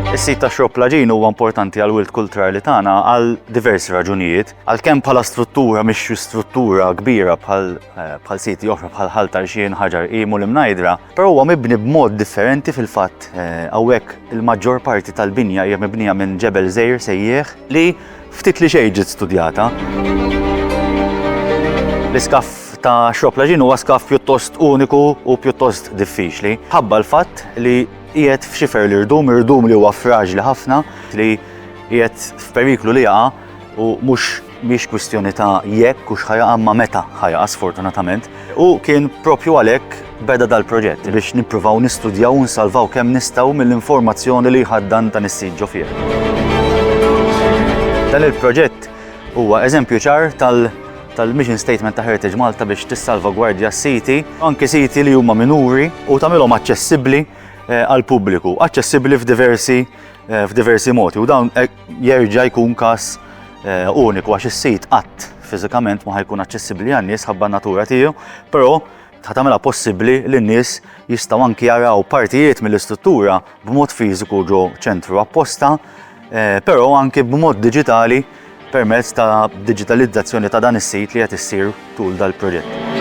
Is-sit ta' Xrob Laġin huwa importanti għal wild kulturali tagħna għal diversi raġunijiet. Għalkemm bħala struttura mhix struttura kbira bħal eh, siti oħra bħal ħal tarxien ħaġar qimu li mnajdra, però huwa mibni b'mod differenti fil-fatt eh, hawnhekk il-maġġor parti tal-binja hija mibnija minn ġebel żejr sejjieħ li ftit li xejn ġiet studjata. L-iskaff ta' Xrob Laġin huwa skaff pjuttost uniku u pjuttost diffiċli, ħabba l-fatt li qiegħed f'xifer l-irdum, irdum li huwa fraġli ħafna, li qiegħed f'periklu li jaqa' u mhux mhix kwistjoni ta' jekk u x'ħa jaqa' imma meta ħa jaqa' sfortunatament. U kien propju għalhekk beda dal-proġett biex nippruvaw nistudjaw u nsalvaw kemm nistgħu mill-informazzjoni li jħaddan dan is-sit ġo fih. Dan il-proġett huwa eżempju ċar tal- tal-mission statement ta' Heritage Malta biex tissalvagwardja s-siti, anki siti li huma minuri u tagħmilhom aċċessibbli eh, għall-pubbliku, aċċessibbli f'diversi eh, f'diversi modi u dawn eh, Jerġa' jkun każ uniku għax is-sit qatt fiżikament ma ħajkun aċċessibbli għan-nies ħabba n-natura tiegħu, però ta' tagħmilha possibbli li n-nies jistgħu anki jaraw partijiet mill-istruttura b'mod fiżiku ġo ċentru apposta, eh, però anki b'mod diġitali permezz ta' digitalizzazzjoni ta' dan is-sit li qed issir tul dal-proġett.